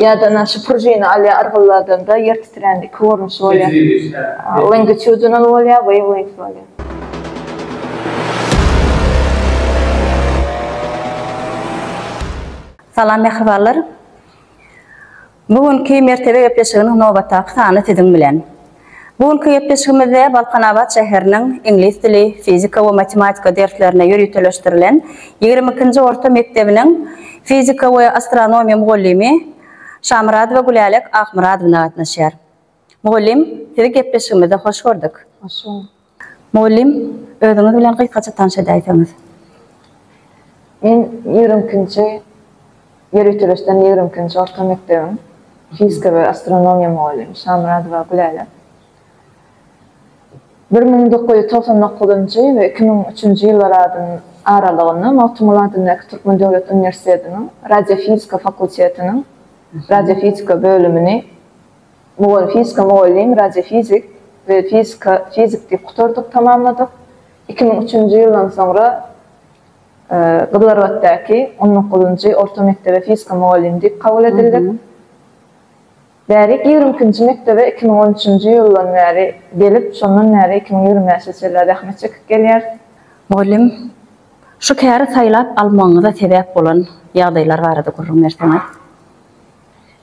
Ýa-da na şu prujina alýa yrgylladanda ýer titrän iki görnüşi bolýar. Longitudinal bolýar, wavelength bolýar. Salam mähribanlar. Bu günki Mertebe gepleşiginiň nobatdaky sany siziň bilen. Bu günki gepleşigimizde Balkanabat şäheriniň iňlis dili, fizika we matematika derslerine ýöriteleşdirilen ýigrimi ikinji orta mekdebiniň fizika we astronomiýa mugallymy Şamyradowa Gülälek Akmyradowna gatnaşýar. Mugallym, Sizi gepleşigimizde hoş gördük. Hoş bulduk. Mugallym, Özüňiz bilen gysgaça tanyş edäýseňiz. Men ýigrimi ikinji, ýöriteleşden ýigrimi ikinji orta mekdebiň fizika we astronomiýa mugallymy Şamyradowa Gülälek. Bir müň dokuz ýüz togsan dokuzynjy we iki müň üçünji ýyllar adyn aralygynda Magtymguly adyndaky Türkmen döwlet uniwersitetiniň radiofizika fakultetiniň radiofizika bölümini Bu gün fizika mugallym, radiofizik we fizika fizik diýip gutardyk, tamamladyk. Iki müň üçünji ýyldan soňra Gyzylarbatdaky on dokuzynjy orta mekdebe fizika mugallymy diýip kabul edildik. Bärik ýigrimi ikinji mekdebe iki müň on üçünji ýyldan bäri gelip, şondan bäri iki müň ýigrimi bäşe çenli zähmet çekip gelýäris. Mugallym, şu käri saýlap almagyňyza sebäp bolan ýagdaýlar barada gürrüň berseňiz?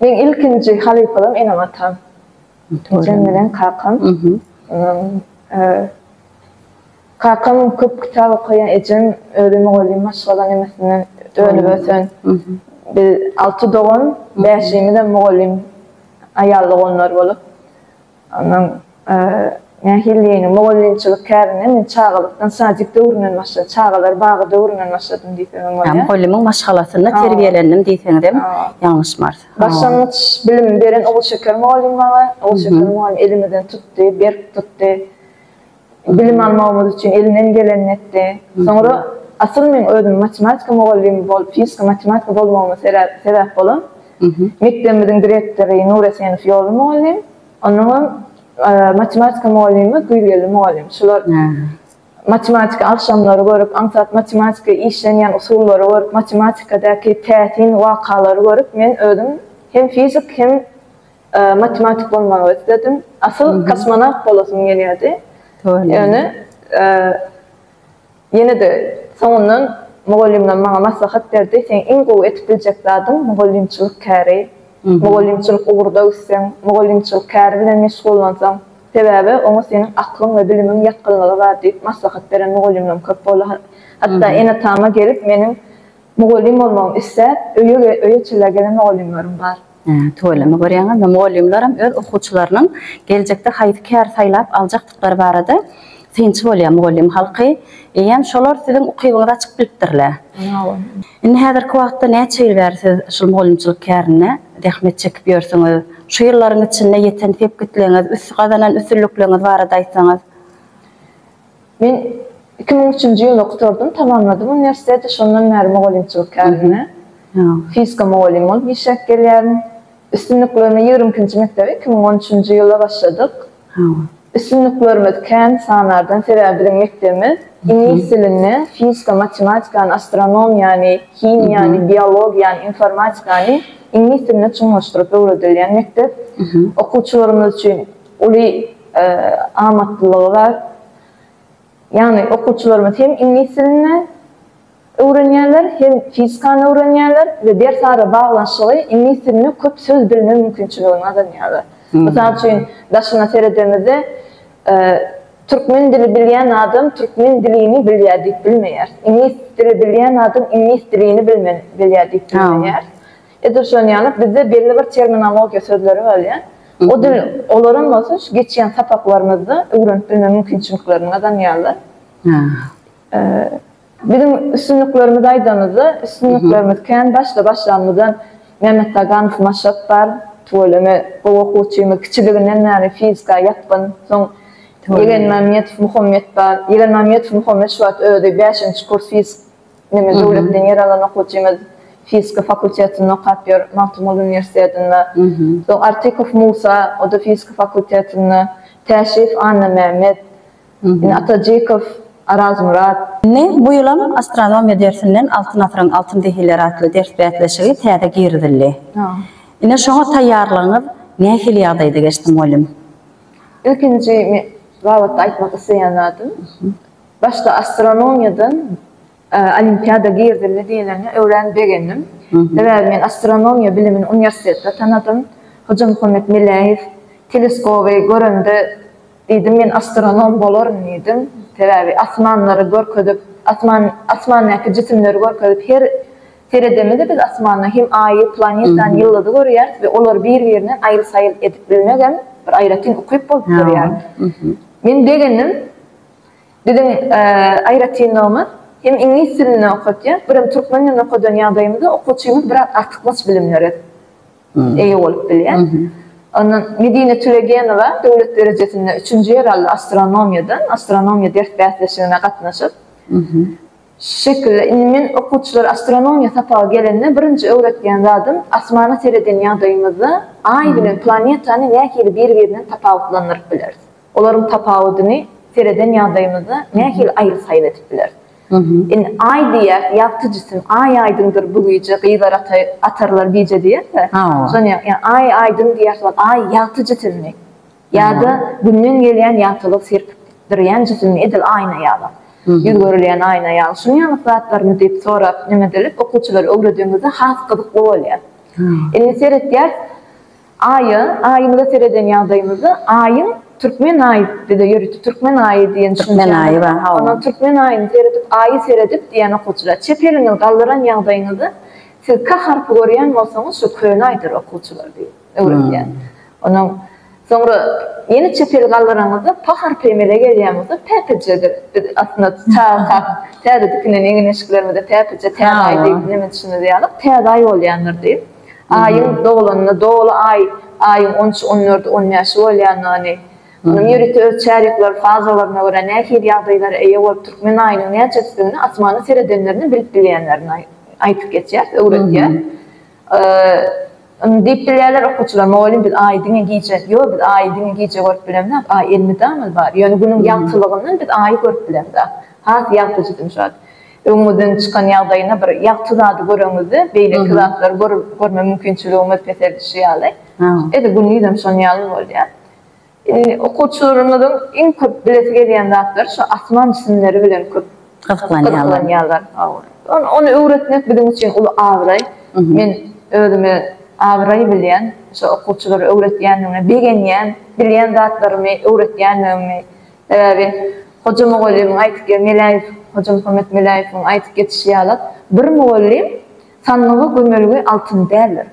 Meň ilkinji halypalam enem-atam. Ejem bilen kakam. Kakam köp kitap okaýan, ejem özi mugallym maşgala nemesinden önüp ösen. Biz alty dogan, bäşimizem mugallym aýal doganlar bolup, Onuň nähilidigini, mugallymçylyk kärine men çagalykdan, sadik döwründen başladym, çagalar bagy döwründen başladym diýsem hem bolýar. Mugallymyň maşgalasynda terbiýelendim diýseňizem ýalňyşmarys. Başlangyç bilim beren Ogulşeker mugallym maňa. Ogulşeker mugallym elimizden tutdy, berk tutdy. Bilim almagymyz üçin elinden gelenini etdi. Soňra asyl meň özüm matematika mugallymy bolup fizika matematika bolmagyma sebäp bolan mekdebimiziň direktory Nur Esenow ýoly mugallym, onnoňam matematika mugallymy Güýzgeldi mugallym. Şular matematika agşamlary görüp, aňsat matematika işlenýän usullary görüp, matematikadaky täsin wakalary görüp men özüm hem fizik hem Matematik bolmagy isledim. Asyl kosmonawt bolasym gelýärdi. Ýöne ýene-de soňundan mugallymlar maňa maslahat berdi, seň iň gowy edip biljek zadyň mugallymçylyk käri. Mugallymçylyk ugurda gitseň, mugallymçylyk käri bilen meşgullansaň, sebäbi oňa seniň aklyň we bilimiň ýatgynlygy bar diýip maslahat beren mugallymlarym köp boldy. Hatda ene-atama gelip meniň mugallym bolmagymy isläp, öýe-öýe çillä gelen mugallymlarym bar. Tüweleme görýäňizmi, mugallymlaram öz okuwçylarynyň geljekde haýsy käri saýlap aljakdyklary barada synçy bolýar. Mugallym halky eýýäm şolar siziň ukybyňyzy açyp bilipdirle. Indi häzirki wagtda näçe ýyl bäri siz şul mugallymçylyk kärinde zähmet çekip ýörsüňiz? Şu ýyllaryň içinde ýeten sepgitligiňiz, üst gazanan üstünlikligiňiz barada aýtsaňyz? Men iki müň üçünji ýylda gutardym, tamamladym uniwersiteti, şondan bäri mugallymçylyk kärine, fizika mugallymy bolup işläp gelýärin. Üstünliklerime ýigrimi ikinji mekdebe iki müň on üçünji ýylda başladyk. Üstünliklerimiz kän sanardan, sebäbi biziň mekdebimiz iňlis dilini, fizika, matematikany, astronomiýany, himiýany, biologiýany, informatikany iňlis diline çuňlaşdyryp öwredilýän mekdep. Okuwçylarymyz üçin Uly amatlylygy bar. Ýagny okuwçylarymyz hem iňlis dilini öwrenýärler, hem fizikany öwrenýärler we ders ara baglanyşygy iňlis dilini köp söz bilme mümkinçiligini gazanýarlar. Mysal üçin, daşyna seredemizde, türkmen dili bilýän adam türkmen dilini bilýär diýip bilmeýäris. Iňlis dili bilýän adam iňlis dilini bilýär diýip bilmeýäris. Edil şonuň ýaly bizde belli bir terminologiýa sözleri bolýar. O dil, olaram bolsa şu geçýän sapaklarymyzda öwrenip bilme mümkinçiliklerini gazanýarlar. Biziň üstünliklerimizi aýdanymyzda, üstünliklerimiz kän. Başda başlanymyzdan Mämmetdaganow Maşat bar. Tüweleme gowy okuwçymyz. Kiçiliginden bäri fizika ýatgyn. Soň Ýegenmämmetow Muhammet bar. Ýegenmämmetow Muhammet şu wagt özi bäşinji kurs fizik. Meniň döwletden ýer alan okyjymyz fizika fakultetinde okap ýör, Magtymguly uniwersitetinde. Soň Artykow Musa, o-da fizika fakultetinde. Täşiýew Annamämmet. Indi Atajykow Arazmyrat. Indi bu ýylam astronomiýa dersinden Altyn asyryň altyn zehinleri atly ders bäsleşigi täze girizildi. Indi şoňa taýýarlygyňyz nähili ýagdaýda geçdi, mugallym? Ilkinji men babatda aýtmak isleýän zadym, Başda astronomiýadan olimpiada girdildi diýlende örän begendim. Sebäbi men astronomiýa bilimini uniwersitetde tanadym. Hojamuhammet Meläýew teleskoby görende diýdim, men astronom bolaryn diýdim. Sebäbi asmanlary görkezip, asman, asmandaky jisimleri görkezip, her seredemizde biz asmanda hem Aýy, planetany, ýyldyzy görýäris we olary bir-birinden aýyl-saýyl edip bilmegem bir aýratyn ukyp bolup durýar. Men begendim. Biziň aýratynlygymyz, hem iňlis dilinde okatýas, birem türkmen dilinde okadan ýagdaýymyzda okuwçymyz biraz artykmaç bilimlere eýe bolup bilýär. Ondan Medine Tülegenowa döwlet derejesinde üçünji ýer aldy astronomiýadan, astronomiýa ders bäsleşigine gatnaşyp. Şu şekilde, indi men okuwçylara astronomiýa sapaga gelende birinji öwretýän zadym, asmana sereden ýagdaýymyzda Aý bilen planetany nähili bir-birinden tapawutlandyryp bileris? Olaryň tapawudyny sereden ýagdaýymyzda nähili aýry-saýry edip bileris? Indi Aý diýýäs, ýagtyjysyn, Aý aýdyňdyr bu gije, gyzlar atarlar gije diýerse, şony ýa Aý aýdyň diýýäs, ol Aý ýagtyjysynmy? Ýa-da Günden gelýän ýagtylyk serpdirýän jisimmi edil aýna ýaly, ýüz görülýän aýna ýaly, şunuň ýaly zatlarmy diýip sorap, neme edilip, okuwçylara öwredenimizde has gyzykly bolýar. Indi seretýäs, Aýa, Aýymyza sereden ýagdaýymyzda Aýyň Türkmen Aýy bize ýörite Türkmen Aýy diýen düşünjäni Türkmen Aýy bar. Ondan Türkmen Aýyny seredip Aýy seredip diýýän okuwçylar. Çep eliňizi galdyran ýagdaýyňyzda siz K harpy görýän bolsaňyz şu Köne Aýdyr okuwçylar diýip öwredýär. Ondan soňra ýene çep eli galdyranyňyzda P harpy emele gelýän bolsa Päpejedir. Biz aslynda çaga kak täzedikinden egin-eşiklerimize Päpeje, Täze Aý diýip neme düşünmez ýalyk, Täze Aý bolýandyr diýip. Aýyň doglanyna doly aý, aýyň on üçi, on dördi, on bäşi bolýandygyny, onuň ýörite öz çärýekler, fazalaryna görä nähili ýagdaýlara eýe bolup türkmen aýynyň näçesidigini asmana seredenlerinde bilip bilýänlerini aýdyp geçýär, öwretýär. Indi diýip bilýärler okuwçylar, Mugallym biz aýy diňe gije, ýok biz aýy diňe gije görüp bilemzok, aý elmydama bar, ýöne günüň ýagtylygyndan biz aýy görüp bilemzok, has ýagtyjy dymşat. Öňüňizden çykan ýagdaýyna bir ýagty zady göreňizde beýleki zatlary görme mümkinçiligiňiz peseldişi ýaly. Edil günde ýüzem şonuň ýaly bolýar. Okuwçylarymyzyň iň köp bilesi gelýän zatlary şu asman jisimleri bilen köp gyzyklanýarlar. Ony öwretmek biziň üçin uly abraý. Men özümi abraý bilýän, şu okuwçylara öwretýändigime begenýän, bilýän zatlarymy öwretýändigimi. Sebäbi Hoja mugallymyň aýtyp ge Meläýew, Hoja Muhammet Meläýewiň aýtyp geçişi ýaly, bir mugallym sandyga gömelge altyn däldir.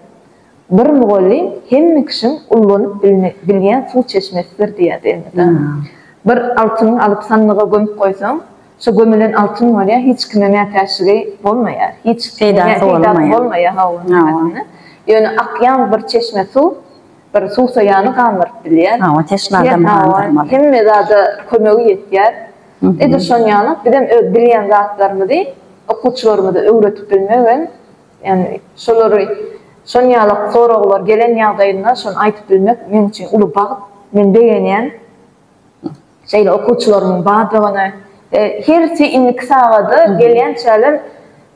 Bir mugallym hemme kişiň ullanyp bilme bilýän suw çeşmesidir diýýärdi ene-de. Bir altyny alyp sandyga gömüp goýsaň, şo gömülen altyn bolýar, hiç kime mätäçligi bolmaýar, hiç Peýdasy bolmaýar. Peýdasy bolmaýar, hawa, Ýöne akýan bir çeşme suw, bir suwsaýany gandyryp bilýär. Hawa, teşne adamy gandyrmaly. Hemme zada kömegi ýetýär. Edil şonuň ýaly bizem öz bilýän zatlarymyzy okuwçylarymyza öwredip bilmek hem, ýagny şolary şonuň ýaly soraglar gelen ýagdaýynda şony aýdyp bilmek meň üçin uly bagt. Men begenýän. Şeýle okuwçylarymyň bardygyny we hersi indiki sagada gelýänçäler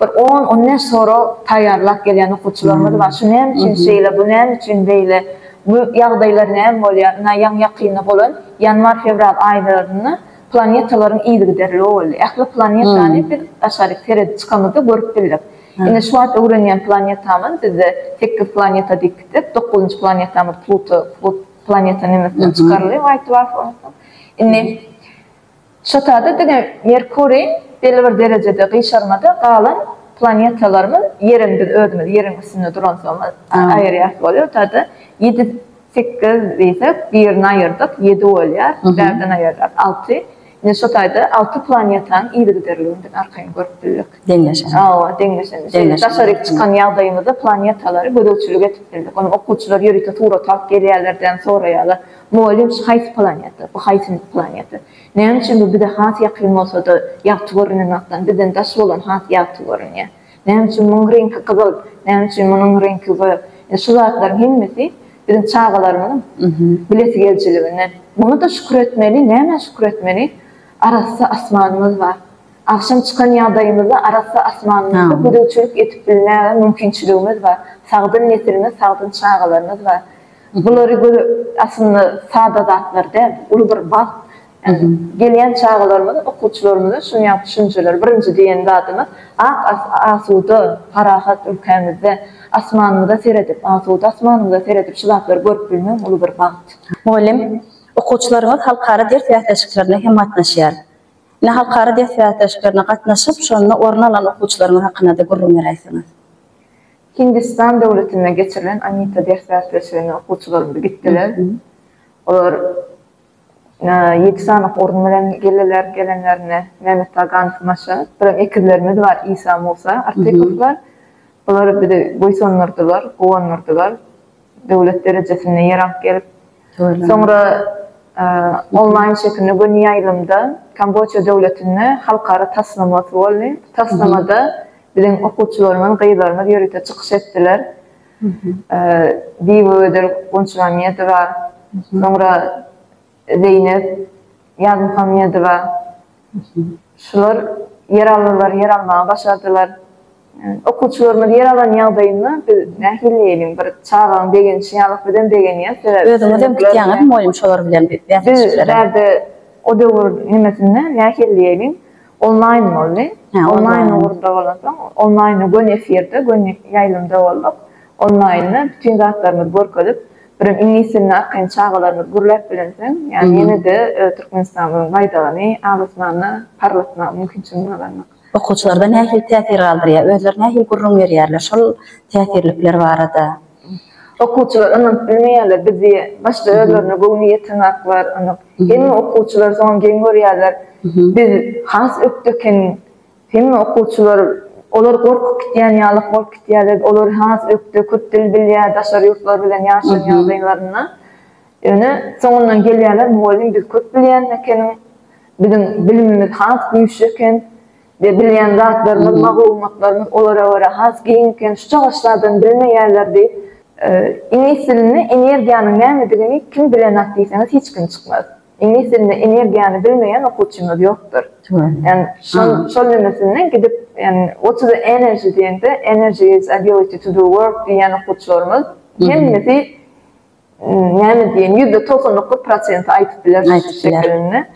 bir on, on bäş sorag taýýarlap gelýän okuwçylarymyz bar. Şu näme üçin şeýle, bu näme üçin beýle, bu ýagdaýlar näme bolýar? Ynha, ýaňy-ýakynda bolan ýanwar-fewral aýlarynda planetalaryň yzygiderligi boldy. Ähli planetany biz daşaryk seredip çykamyzda görüp bildik. Indi şu wagt öwrenýän planetamyz bizde sekiz planeta diýip gitdik, dokuzynjy planetamyz Pluto, Plut, planeta nemesine çykaryldy White Dwarf ondan soň. Indi şotada diňe Merkuriý belli bir derejede gyşarmada galan planetalarymyz Ýeriň biz özümiz Ýeriň üstünde duransomyz aýyrýas bolýar. Şotada ýedi sekiz diýsek birini aýyrdyk ýedi bolýar, bärden aýyrsak alty. Ine şo taýda alty planetanyň yzygiderliligini arkaýyn görüp bildik. Deňleşen. Hawa, deňleşen. Şeýle daşaryk çykan ýagdaýymyzda planetalary gözegçilik edip bildik. Ony okuwçylar ýörite surat alyp gelýärler däl soraýarlar, Mugallym şu haýsy planeta, bu haýsy planeta? Näme üçin bu bize has ýakyn bolsada ýagty görünen wagtdan bizden daş bolan has ýagty görünýär? Näme üçin munuň reňki gyzyl, näme üçin munuň reňki gög? Ine, şu zatlaryň hemmesi biziň çagalarymyzyň bilesi gelijiliginden. Muňa-da şükür etmeli, nämä şükür etmeli? Arassa asmanymyz bar. Agşam çykan ýagdaýymyzda arassa asmanymyzda gözegçilik edip bilmäge mümkinçiligimiz bar. Sagdyn nesilimiz, sagdyn çagalarymyz bar. Bulary göz, aslynda sada zatlar däl, uly bir bagt. Gelýän çagalarymyz, okuwçylarymyza şuny ýaly düşündirseler, birinji diýen zadymyz, ak asuda, parahat ülkämizde asmanymyza seredip, asuda asmanymyza seredip şu zatlary görüp bilmegem uly bir bagt. Mugallym, Okuwçylarymyz halkara ders bäsleşiklerine hem gatnaşýar. Ine, halkara ders bäsleşiklerine gatnaşyp, şonda orun alan okuwçylaryňyz hakynda-da gürrüň beräýseňiz. Hindistan döwletinde geçirilen Amita ders bäsleşigine okuwçylarymyz gitdiler. Olar Ýedi sanak orun bilen geldiler, gelenlerinde Mehmet Taganow maşyn, biziň ekizlerimiz bar, Isa, Musa Artypowlar. Bular bizi buýsandyrdylar, guwandyrdylar. Döwlet derejesinde ýer alyp gelip, soňra onlaýn şekilde göni ýaýlymda Kamboça döwletinde halkara taslama boldy. Taslamada biziň okuwçylarymyz, gyzlarymyz ýörite çykyş etdiler. Diýw öder Gunçmammedowa, soňra Zeýnep Ýazmuhammedowa. Şular ýer aldylar, ýer almagy başardylar. Okuwçylarymyz ýer alan ýagdaýynda biz nähili diýeliň, bir çagaň begenişi ýaly biz hem begenýäs. Sebäbi Özüňiz hem gitýäňizmi mugallym şolar bilen bäsleşiklere? Biz bärde o döwür nemesinde nähili diýeliň, Onlaýn boldy. Hä, onlaýn. Onlaýn ugurda bolansoň, onlaýnda göni efirde, göni ýaýlymda bolduk. Onlaýnda bütin zatlarymyzy görkezip, birem iňlis dilini arkaýyn çagalarymyz gürläp bilensoň, ýagny ýene-de Türkmenistanyň baýdagyny abasmana parlatmaga mümkinçiligimiz gazandyk. Okuwçylarda nähili täsir galdyrýar? Özleri nähili gürrüň berýärler şol täsirlikler barada? Okuwçylar ynanyp bilmeýärler, biz diýe, başda özlerine göwni ýetenaklar ynanyp, hemme okuwçylar soňam geň görýärler, biz has ökde ekeniň, hemme okuwçylar, olar gorkup gitýän ýalyk bolup gitýärler, olar has ökde, köp dil bilýär, daşary ýurtlar bilen ýaşan ýagdaýlarynda, ýöne soňundan gelýärler, mugallym biz köp bilýän ekeniň, biziň bilimimiz has güýçli eken, we bilýän zatlarymyz, maglumatlarymyz olara görä has giň eken, şu çagaşlardan bilmeýärler diýip, iňlis dilinde energiýanyň nämedigini kim bilenak diýseňiz hiç kim çykmaz. Iňlis dilinde energiýany bilmeýän okuwçymyz ýokdur. Ýani şol şol nemesinden gidip ýani what is the energy diýende energy is ability to do work diýýän okuwçylarymyz hemmesi näme diýen ýüzde togsan dokuz prosenti aýdyp biler şu şekilinde.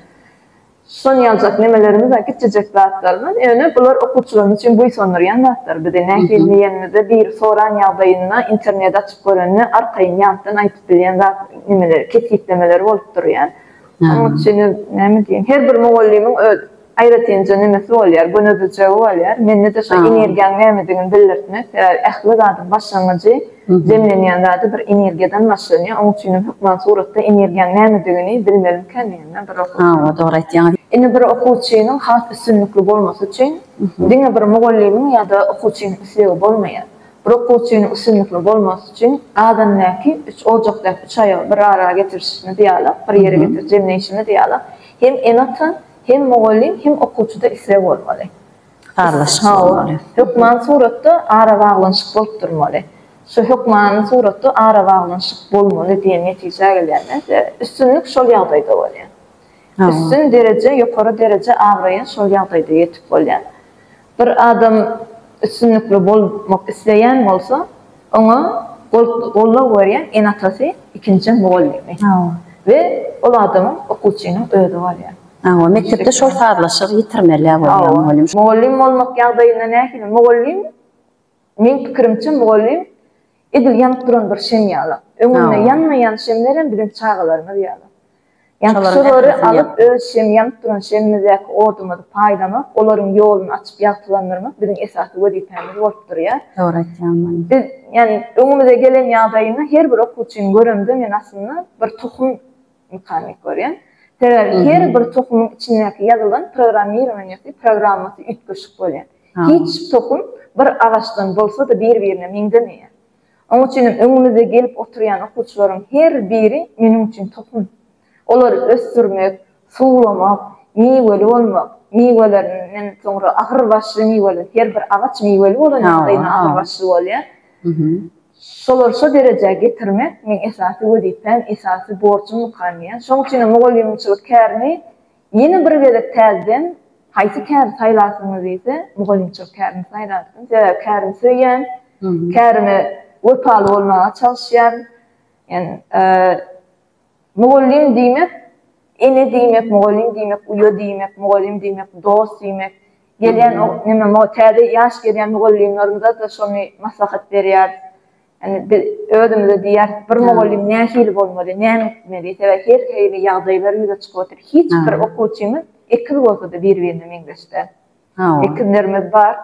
Şudan ýaljak nemelerimiz bar, kiçijek zatlarymyz, ýöne bular okuwçylarymyz üçin buýsandyrýan zatlar. Bizi nähili diýenimizde, biri soran ýagdaýynda interneti açyp görende arkaýyn ýatdan aýdyp bilýän zat nemeleri, kesgitlemeleri bolup durýar. Onuň üçin näme diýeýin, her bir mugallymyň öz aýratynja nemesi bolýar, gönezijegi bolýar. Mende-de şo energiýaň nämedigini bildirtmek, sebäbi ähli zadyň başlangyjy Jemlenýän zady bir energiýadan başlanýar, oň üçinem hökman suratda energiýaň nämedigini bilmelimikä diýen da bir okuwçy. Hawa, dogry aýtýaňyz. Indi bir okuwçynyň has üstünlikli bolmasy üçin diňe bir mugallymyň ýa-da okuwçynyň islegi bolmaýar. Bir okuwçynyň üstünlikli bolmasy üçin gazandaky üç ojakdaky üç aýagy bir ara getirişimiz ýaly, bir ýere getirip jemleýşimiz ýaly hem ene-ata, hem mugallym, hem okuwçyda isleg bolmaly. sazlaşyk bolmaly. Hökman suratda arabaglanyşyk bolup durmaly. Şu hökman suratda arabaglanyşyk bolmaly diýen netijä gelýär men. Üstünlik şol ýagdaýda bolýar. Üstün dereje, ýokary dereje abraýa şol ýagdaýda ýetip bolýar. Bir adam üstünlikli bolmak isleýän bolsa, Oňa gollog berýän ene-atasy, ikinjiden mugallymy. We ol adamyň, okuwçynyň özi bolýar. Hawa, mekdepde şol sazlaşygy ýitirmeli-ä bolýar mugallym. Hawa. Mugallym bolmak ýagdaýynda nähili? Mugallym, meň pikirimçe, mugallym edil ýanyp duran bir şem ýaly. Öňünde ýanmaýan şemlerem biziň çagalarymyz ýaly. Ýagtylyklary alyp, öz şem ýanyp duran şemimizdäki odumyzy paýlamak, olaryň ýoluny açyp ýagtylandyrmak biziň esasy wezipämiz bolup durýar. Dogry aýtýaň muny. Biz, ýani öňümize gelen ýagdaýyny her bir okuwçyny göremde men aslynda bir tohum mykany görýän. Sebäbi her bir tohumyň içindäki ýazylan programmirowaniýasy, programmasy üýtgeşik bolýar. Hiç tohum bir agaçdan bolsada bir-birine meňzemeýär. Oň üçin hem öňüňizde gelip oturýan okuwçylaryň her biri meniň üçin tohum. Olary ösdürmek, suwlamak, miweli bolmak, miwelerinden soňra agyrbaşly miweli, her bir agaç miweli bolandan soň agyrbaşly bolýar. Şolary şo derejä getirmek meň esasy wezipäm, esasy borjumykam diýýän. Şoň üçin hem mugallymçylyk kärini Ýene bir gezek täzeden haýsy käri saýlarsyňyz diýse, mugallymçylyk kärini saýlardym. Sebäbi kärimi söýýän, kärime wepaly bolmaga çalyşýan. Ýani mugallym diýmek, ene diýmek, mugallym diýmek, uýa diýmek, mugallym diýmek, dost diýmek. Gelýän o, neme, täze ýaş gelýän mugallymlarymyza-da şony maslahat berýäris. Indi biz özümize diýýäris, bir mugallym nähili bolmaly, näme etmeli? Sebäbi her hili ýagdaýlar ýüze çykyp otyr. Hiç bir okuwçymyz ekiz bolsa-da bir-birine meňzeş däl. Ekizlerimiz bar.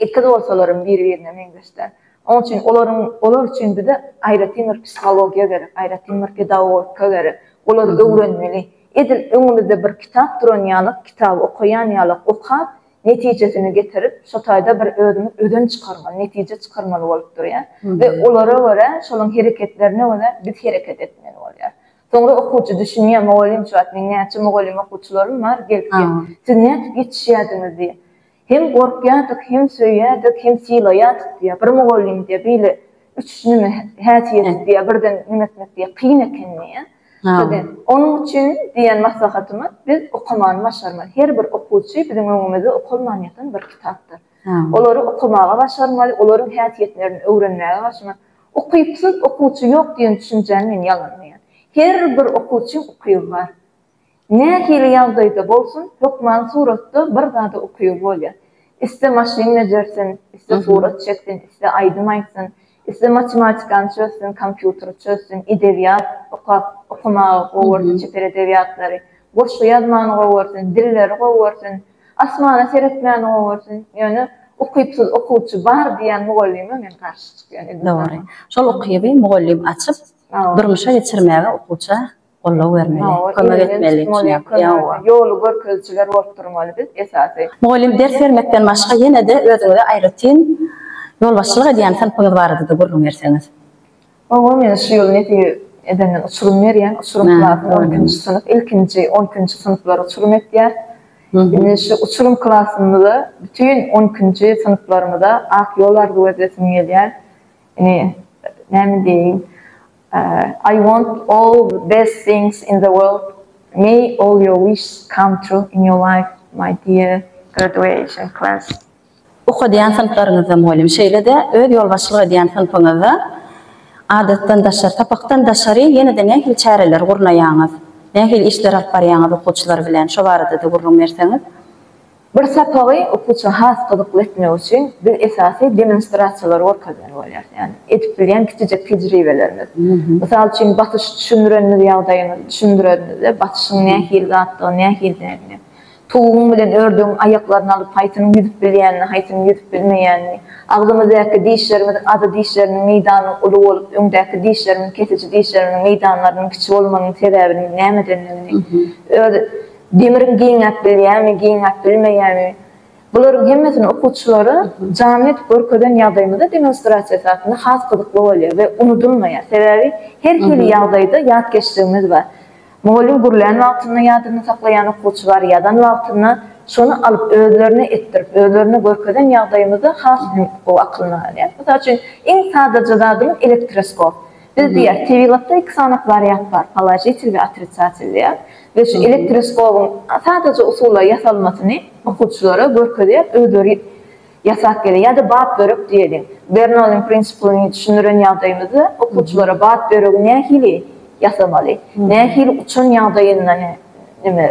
Ekiz bolsalaram bir-birine meňzeş däl. Onuň üçin olaryň olar üçin bize aýratyn bir psihologiýa gerek, aýratyn bir pedagogika gerek. Olar öwrenmeli. Edil öňümizde bir kitap duran ýaly, kitaby okaýan ýaly okap, netijesini getirip, şo taýda bir özümiz özen çykarmaly, netije çykarmaly bolup durýar we olara görä, şolaryň hereketlerine görä biz hereket etmeli bolýar. Soňra okuwçy düşünýär, mugallym şu wagt meň näçe mugallym okuwçylarym bar, gelip diýýär, siz nädip ýetişýärdiňiz diýýär. Hem gorkýardyk, hem söýýärdik, hem sylaýardyk diýýär. Bir mugallym diýýär, beýle üç neme häsiýeti diýýär, birden nemetmek diýýär, kyn eken diýýär. Tabii. Onuň üçin diýen maslahatymyz, biz okamany başarmaly. Her bir okuwçy biziň öňümizde okalman ýatan bir kitapdyr. Olary okamaga başarmaly, olaryň häsiýetlerini öwrenmäge başarmaly. Ukypsyz okuwçy ýok diýen düşünjäni men ýalanlaýan. Her bir okuwçyň ukyby bar. Nähili ýagdaýda bolsun, hökman suratda bir zada ukyby bolýar. Iste maşyn bejersin, iste surat çeksin, iste aýdym aýtsyn, iste matematikany çözsün, kompýuteri çözsün, edebiýat okap, okamagy gowy görsün, çeper edebiýatlary, goşgy ýazmany gowy görsün, dilleri gowy görsün, asmana seretmäni gowy görsün. Ýöne ukypsyz okuwçy bar diýýän mugallyma men garşy çykýan. Dogry. Şol ukyby mugallym açyp, durmuşa geçirmäge okuwça goldaw bermeli, kömek etmeli diýýär. Ýoly görkezijiler bolup durmaly biz esasy. Mugallym ders bermekden başga ýene-de özüňize aýratyn ýolbaşçylyk edýän synpyňyz barada-da gürrüň berseňiz. Hawa men şu ýyl nepi edenden uçurym berýän, uçurym klasy on ikinji synp, ilkinji on ikinji synplary uçurym etýän. Indi şu uçurym klasymyza bütin on ikinji synplarymyza ak ýol arzuw edesim gelýär. Indi näme diýeýin. I want all the best things in the world may all your wishes come true in your life my dear graduation class. Okadýan synplaryňyzda mugallym şeýle-de öz ýolbaşçylyk edýän synpyňyzda adatdan daşary, sapakdan daşary ýene-de nähili çäreleri gurnaýaňyz? Nähili işleri alyp barýaňyz okuwçylar bilen? Şo barada-da gürrüň berseňiz. Bir sapagy okuwçyňa has gyzykly etmek üçin biz esasy demonstrasiýalary görkezmeli bolýarys. Ýagny edip bilýän kiçijek tejribelerimiz. Mysal üçin basyşy düşündirenimiz ýagdaýymyzy düşündirenimizde basyşyň nähili zatdygyny, nähilidigini, towugyň bilen ördügiň aýaklaryny alyp haýsynyň ýüzüp bilýänini, haýsynyň ýüzüp bilmeýänini, agzymyzdaky dişlerimiziň azy dişlerimiziň meýdanynyň uly bolup, öňdäki dişlerimiziň kesiji dişlerimiziň meýdanlarynyň kiçi bolmagynyň sebäbiniň nämedendigini, öz Demiriň giňäp bilýärmi, giňäp bilmeýärmi? Bularyň hemmesini okuwçylara janly edip görkezen ýagdaýymyzda demonstrasiýa esasynda has gyzykly bolýar we unudylmaýar. Sebäbi her hili ýagdaýda ýatkeşligimiz bar. Mugallym gürlän wagtynda ýadynda saklaýan okuwçy bar, ýazan wagtynda şony alyp özlerine etdirip, özlerine görkezen ýagdaýymyzda has hem gowy aklynda galýar. Mysal üçin, iň sadaja zadymyz elektroskop. Biz diýýäs, tebigatda iki sany wariant bar, položitel we otrisatel diýýäs. Biz şu elektroskobyň sadaja usulla ýasalmasyny okuwçylara görkezýäs, özleri ýasap gelýär. Ýa-da bat börek diýeliň. Bernoulliň prinsiplini düşündiren ýagdaýymyzda okuwçylara bat böregi nähili ýasamaly, nähili uçan ýagdaýynda neme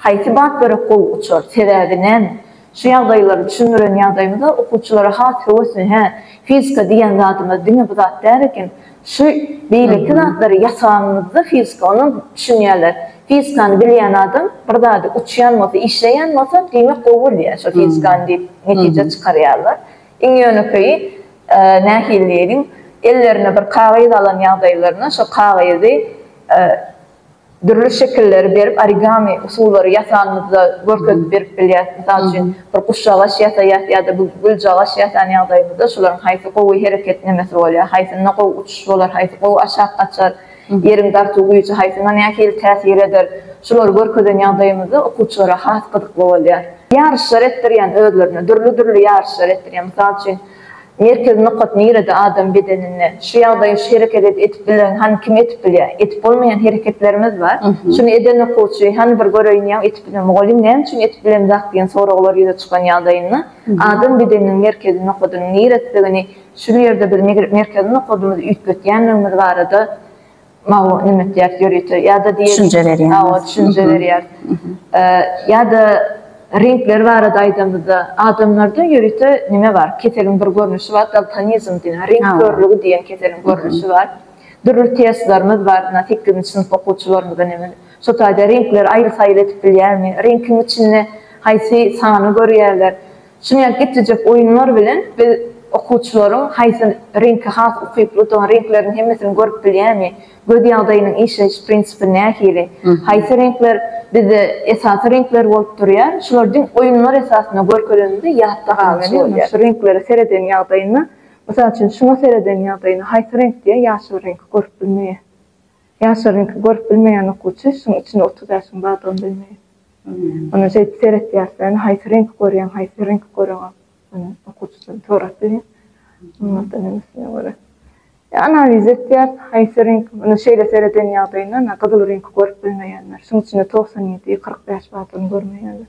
Haýsy bap gerek gowy uçar, sebäbi näme? Şu ýagdaýlary düşündiren ýagdaýymyzda okuwçylara has höwesli hä, fizika diýýän zadymyz diňe bu zat däl eken, şu beýleki zatlary ýasaganymyzda fizika onuň düşünýärler. Fizikany bilýän adam bir zady uçýan bolsa, işleýän bolsa diýmek gowy bilýär şo fizikany diýip netije çykarýarlar. Iň ýönekeýi nähili diýeliň ellerine bir kagyz alan ýagdaýlarynda şo kagyzy Dürli şekilleri berip origami usullary ýasanyňyzda görkezip berip bilýäris. Mysal üçin, bir guşjagaç ýasaýas ýa-da bir güljagaç ýasan ýagdaýymyzda şolaryň haýsy gowy hereketlemesi bolýar, haýsynda gowy uçuş bolar, haýsy gowy aşak gaçar, ýeriň dartuw güýji haýsyna nähili täsir eder, şulary görkezen ýagdaýymyzda okuwçylara has gyzykly bolýar. Ýaryşlar etdirýän özlerine, dürli-dürli ýaryşlar etdirýär. Mysal üçin. Merkezi nokat nirede adam bedeninde? Şu ýagdaýy şu hereket edip bilen hany kim edip bilýä? Edip bolmaýan hereketlerimiz bar. Şuny eden okuwçy hany bir göreýin ýa edip bilen mugallym näme üçin edip bilen zat diýen soraglar ýüze çykan ýagdaýynda adam bedeniniň merkezi nokadynyň niresdigini şul ýerde biz merkezi nokadymyzy üýtgetýänligimiz barada Mawy nime diýýäris ýörite ýa-da diýeris. Düşünje berýär. Hawa, düşünje berýär. Ýa-da reňkler barada aýdamyzda, adamlarda ýörite nime bar? Keseliň bir görnüşi bar, daltonizm diýen, reňk körlügi diýen keseliň görnüşi bar. Dürli testlerimiz bar, ynha, sekizinji synp okuwçylarymyza nemen, şo taýda reňkleri aýry-saýry edip bilýärmi? Reňkiň içinde haýsy sany görýärler? Şunyň geçjek oýunlar bilen biz okuwçylaryň haýsy reňke has ukyplydygyny, reňkleriň hemmesini görüp bilýärmi, göz ýagdaýynyň işleýiş prinsipi nähili, haýsy reňkler bizde esasy reňkler bolup durýar, şular diňe oýunlar esasynda görkezilende ýatda galyşy bolýar. Şu reňklere sereden ýagdaýynda, mysal üçin, şuňa sereden ýagdaýynda haýsy reňk diýýär, ýaşyl reňki görüp bilmeýär. Ýaşlaryňky görüp bilmeýän okuwçy şuň içinde otuz ýaşyň bardygyny bilmeýär. Ondan şeýdip seretýär sen haýsy reňki görýäň haýsy reňki göreňok ony okuwçydan sorap bilýär. Ondan öňküsine görä. Analiz etýär haýsy reňk ony şeýle sereden ýagdaýynda gyzyl reňki görüp bilmeýänler şuň içinde togsan ýedi kyrk bäş bardygyny görmeýärler.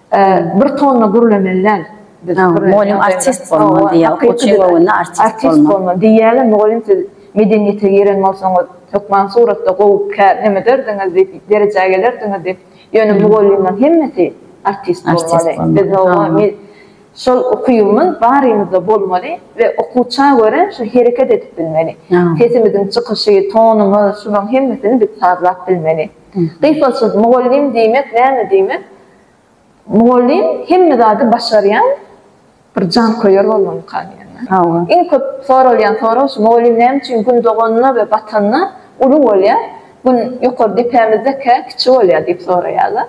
Bir tonna gürlemeli däl. Biz Mugallym artist bolmaly diýýär. Okuwçyň göwnüne artist bolmaly. Diýýärler mugallym siz medeniýete giren bolsaňyz hökman suratda gowy kä nämederdiňiz diýip derejä gelerdiňiz diýip. Ýöne mugallymlaryň hemmesi artist bolmaly. Biz mugallym şol ukybyň barymyzda bolmaly we okuwça görä şu hereket edip bilmeli. Sesimiziň çykyşy, tonumyz şularyň hemmesini biz sazlap bilmeli. Gypbalçylyk mugallym diýmek näme diýmek? Mugallym hemme zady başarýan bir janköýer bolmalyka diýýärler. Iň köp soralýan sorag şu, mugallym näme üçin Gün doganda we batanda uly bolýar, Gün ýokary depämizdekä kiçi bolýar diýip soraýarlar.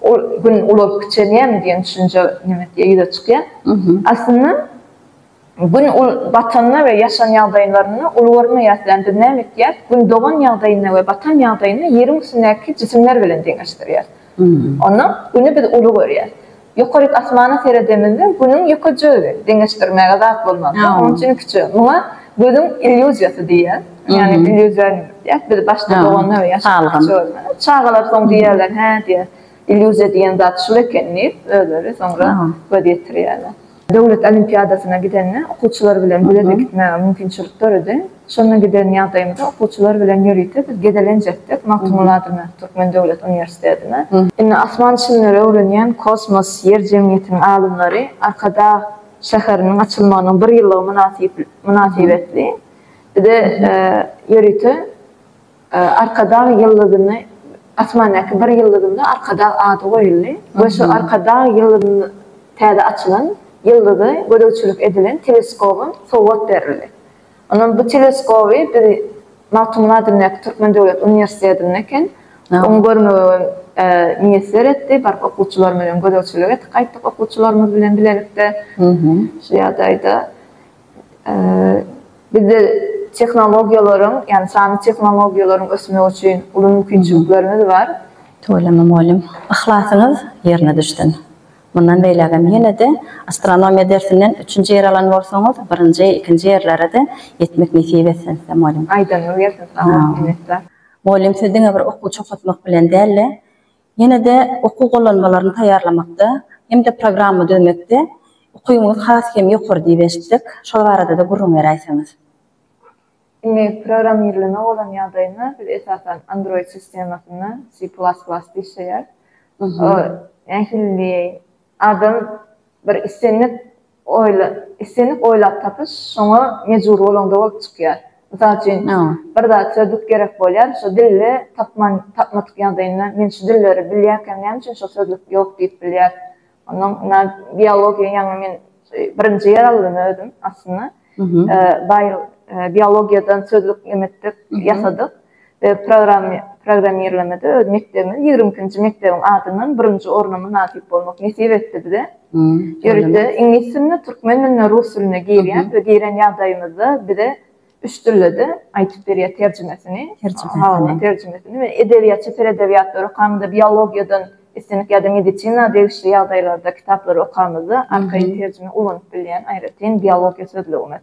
Ol Gün ulalyp kiçelýärmi diýen düşünje näme diýýär, ýüze çykýar. Aslynda. Gün ul batanda we ýaşan ýagdaýynlarynda uly görmeýäs län biz näme etýäs gün dogan ýagdaýynda we batan ýagdaýynda ýeriň üstündäki jisimler bilen deňeşdirýäs onda güni biz uly görýäs ýokaryk asmana seredemizde günüň ýökejigi deňeşdirmäge zat bolmazda onuň üçin kiçi muňa gözüň illýuziýasy diýýäs ýagny illýuziýa diýýäs biz başda doganda we ýaşanda kiçi görmeli çagalar soň diýýärler hä diýýär. Illýuziýa diýen zat şul eken diýip, özleri soňra göz ýetirýärler. Döwlet olimpiadasyna gidende okuwçylar bilen bileje gitmäge mümkinçilik döredi. Şonda giden ýagdaýymyzda okuwçylar bilen ýörite biz gezelenjekdik Magtymguly adyndaky Türkmen döwlet uniwersitetine. Indi asman çimleri öwrenýän Kosmos, Ýer jemgyýetiniň alymlary Arkadag şäheriniň açylmagynyň bir ýyllygy mynasybetli bize ýörite Arkadag ýyldyzyny Asmandaky bir ýyldyzynda Arkadag ady goýuldy we şu Arkadag ýyldyzyny täze açylan ýyldyza gözegçilik edilen teleskoba sowgat berildi. Ondan bu teleskoby biz Magtymguly adyndaky Türkmen döwlet uniwersitetinde eken oňa görmegi miýesser etdi. Baryp okuwçylarymyz bilen gözegçilik etdik gaýtdyk okuwçylarymyz bilen bilelikde şu ýagdaýda. Bizde tehnologiýalaryň, ýagny sanly tehnologiýalaryň ösmegi üçin uly mümkinçiliklerimiz bar. Tüweleme mugallym, yhlasyňyz ýerine düşsün. Mundan beýlägem ýene-de astronomiýa dersinden üçünji ýer alan bolsaňyz, birinji, ikinji ýerlere-de ýetmek nesip etsin size mugallym. Aýdanyňyz gelsin, sag boluň, minnetdar. Mugallym siz diňe bir okuw çogatmak bilen däl-de, Ýene-de okuw gollanmalaryny taýýarlamakda hem-de programma düzmekde ukybyňyz has hem ýokary diýip eşitdik. Şol barada-da gürrüň beräýseňiz. Indi programmirleme bolan ýagdaýynda biz esasan Android sistemasynda C plas plasda işleýäris. Nähili diýeýin, adam bir islendik Oýla, islendik oýlap tapyş şoňa mejbur bolaňda bolup çykýar. Mysal üçin, bir zat, sözlük gerek bolýar, şo dilde tapman, tapmadyk ýagdaýynda men şu dilleri bilýärkäm näme üçin şo sözlük ýok diýip bilýär. Onnoň na biologiýa ýaňy men birinji ýer aldym özüm aslynda. Baý biologiýadan sözlük nimetdik, ýasadyk. we programmirlemede öz mekdebimiz ýigrimi ikinji mekdebiň adyndan birinji orna mynasyp bolmak nesip etdi bize. Ýörite iňlis diline, türkmen diline, rus diline girýär we giren ýagdaýymyzda bize üç dilde-de aýdyp berýär terjimesini, habarlaryň terjimesini we edebiýatça ser edebiýatlary okamyzda, biologiýadan islendik ýa-da medisina degişli ýagdaýlarda kitaplary okamyzda arkaýyn terjime ulanyp bilýän aýratyn biologiýa sözlügimiz.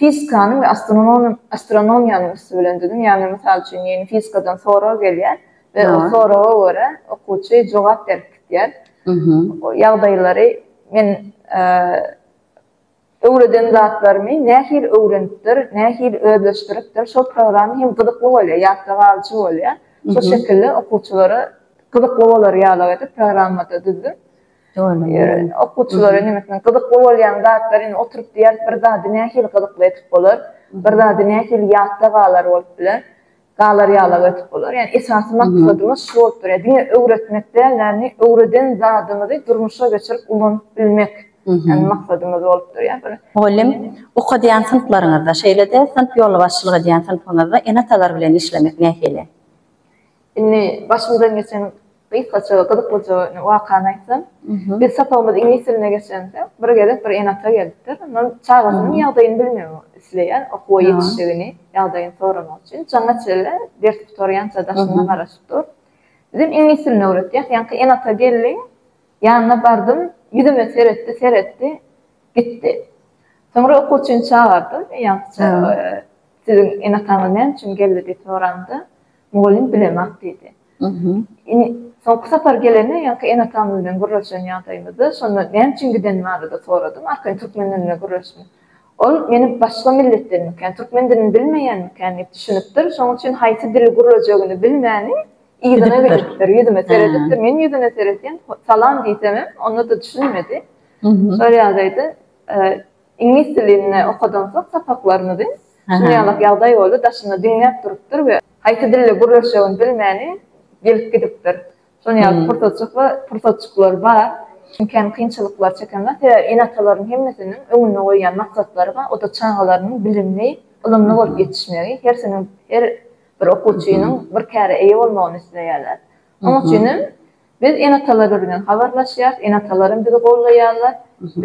fizikanyň we astronomiýanyň üsti bilen düzüm, ýagny mysal üçin diýeýin fizikadan sorag gelýär we o soraga görä okuwçy jogap berip gidýär. O ýagdaýlary men öwreden zatlarymy nähili öwrenipdir, nähili özleşdiripdir şol programma hem gyzykly bolýar, ýatda galyjy bolýar. Şol şekilde okuwçylara gyzykly bolar ýalyk edip programmada düzdüm. Okuwçylara nemesine gyzykly bolýan zatlar indi oturyp diýýäris bir zady nähili gyzykly edip bolar, bir zady nähili ýatda galar bolup biler, galar ýalak edip bolar. Ýani esasy maksadymyz şu bolup durýar. Diňe öwretmek däl, ýani öwreden zadymyzy durmuşa geçirip ulanyp bilmek ýani maksadymyz bolup durýar. Bir. Mugallym, okadýan synplaryňyzda, şeýle-de synp ýolbaşçylyk edýän synpyňyzda ene-atalar bilen işlemek nähili? Indi başymyzdan geçen gysgaça, gyzyklyja wakany aýtsam, biz sapagymyz iňlis diline geçende, bir gezek bir ene-ata gelipdir. Ondan çagasynyň ýagdaýyny bilmegi isleýär, okuwa ýetişdigini, ýagdaýyny soramak üçin. Jaňa çenli ders gutarýança daşyndan garaşyp dur. Bizem iňlis dilini öwretýäs. Ýaňky ene-ata geldi, ýanyna bardym, ýüzüme seretdi, seretdi, gitdi. Soňra okuwçyny çagardym, ýaňkyça, Siziň ene-ataňyz näme üçin geldi? diýip soranda, Mugallym bilemak diýdi. Ine, soňky sapar gelende, ýaňky ene-atam bilen gürleşen ýagdaýymyzda, şonda näme üçin gidenim barada soradym, arkaýyn türkmen dilinde gürleşdim. Ol meni başga milletdenmikän, türkmen dilini bilmeýänmikän diýip düşünipdir, şonuň üçin haýsy dili gürlejegini bilmäni yzyna gidipdir, ýüzüme seredipdir. Men ýüzüne seretýän, salam diýsemem, onda-da düşünmedi. Şol ýagdaýda Iňlis dilinde okadan soň sapaklarymyzy şuny ýalak ýagdaý boldy, daşynda diňläp durupdyr we haýsy dilde gürleşjegini bilmäni gelip gidipdir. Şony ýaly pursatjykla pursatjyklar bar. Iňkän kynçylyklar çeken zat. Sebäbi ene-atalaryň hemmesiniň öňünde goýýan maksatlary bar. O-da çagalarynyň bilimli, ylymly bolup ýetişmegi. Hersiniň her bir okuwçynyň bir käre eýe bolmagyny isleýärler. Oň üçinem Biz ene-atalarymyz bilen habarlaşýarys, ene-atalaram bizi goldaýarlar,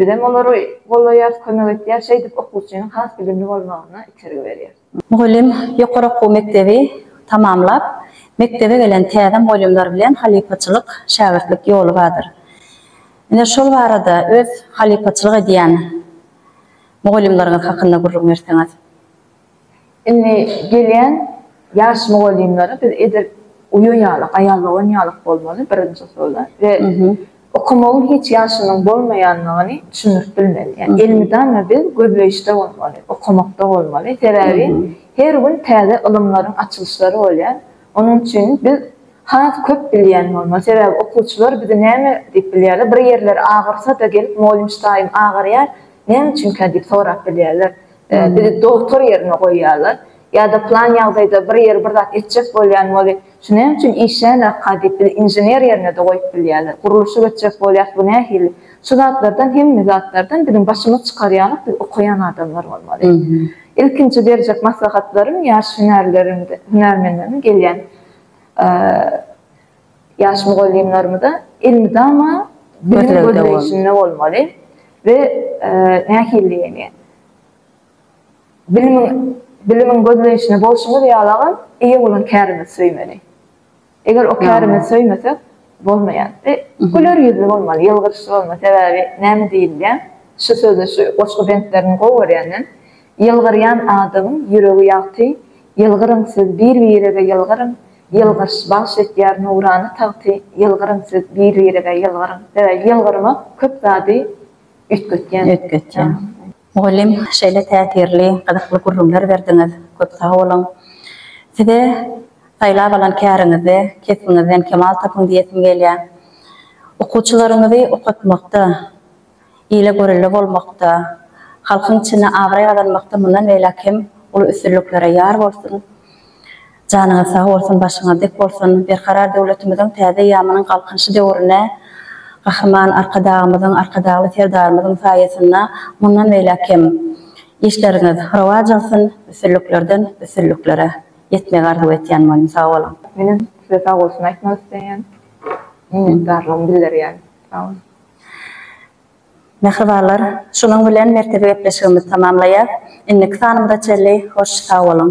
bizem olary goldaýarys, kömek etýäris, şeýdip okuwçynyň has bilimli bolmagyna itergi berýäris. Mugallym ýokary okuw mekdebi tamamlap, mekdebe gelen täze mugallymlar bilen halypaçylyk, şägirtlik ýoly bardyr. Ine, şol barada öz halypaçylyk edýän mugallymlaryňyz hakynda gürrüň berseňiz? Indi gelýän ýaş mugallymlara biz edil uýa ýaly, gaýa dogan ýaly bolmaly, birinji usulda we okamagyň hiç ýaşynyň bolmaýandygyny düşündirip bilmeli. Ýa elmydama biz gözleýişde bolmaly, okamakda bolmaly. Sebäbi her gün täze ylymlaryň açylyşlary bolýar. Onuň üçin biz has köp bilýän bolmaly. Sebäbi okuwçylar bizi näme diýip bilýärler, bir ýerleri agyrsa-da gelip, Mugallym çyraýym agarýar, näme üçinkä diýip sorap bilýärler. Bizi dogtor ýerine goýýarlar. Ýa-da plan ýagdaýda bir ýeri bir zat etjek bolýan weli, şu näme üçin işlänokka diýip, bizi inžener ýerine-de goýup bilýärler. Gurluşyk etjek bolýas, bu nähili? Şu zatlardan, hemme zatlardan biziň başymyz çykar ýalyk biz okaýan adamlar bolmaly. Ilkinji berjek maslahatlarym ýaş hünärleriň, hünärmenleriň gelýän Ýaş mugallymlarymyza elmydama bilim gözleýşinde bolmaly we nähilidigini, bilimiň bilimiň gözleýşinde bolşumyz ýalagam eýe bolan kärimizi söýmeli. Eger o kärimizi söýmesek, bolmaýar we güler ýüzli bolmaly, ýylgyryşly bolmaly. Sebäbi näme diýilýär, şu sözi, şu goşgy bentlerini gowy görýänden, Ýylgyrýan adamyň ýüregi ýagty, Ýylgyryň siz bir-birege ýylgyryň, Ýylgyryş bagş etýär nurana tagty Ýylgyryň siz bir-birize ýylgyryň Sebäbi ýylgyrmak köp zady üýtgetýän. Üýtgetýän. Mugallym şeýle täsirli, gyzykly gürrüňler berdiňiz. Köp sag boluň. Size saýlap alan käriňizde kesbiňizden kemal tapyň diýesim gelýär. Okuwçylaryňyzy okatmakda, ile görelde bolmakda, halkyň içinde abraý gazanmakda mundan beýläk hem uly üstünliklere ýar bolsun! Janyňyz sag bolsun, başyňyz dik bolsun! Berkarar döwletimiziň täze eýýamynyň Galkynyşy döwrüne Gahryman Arkadagymyzyň, Arkadagly Serdarymyzyň saýasynda mundan beýläk hem işleriňiz rowaç alsyn, üstünliklerden üstünliklere ýetmegi arzuw etýän bolyň! Sag boluň! Menem size sag bolsun aýtmak isleýän. Minnetdarlygymy bildirýän. Sag boluň! Mähribanlar, şunuň bilen merkezi gepleşigimizi tamamlaýas. Indiki sanymyza çenli hoş sag boluň!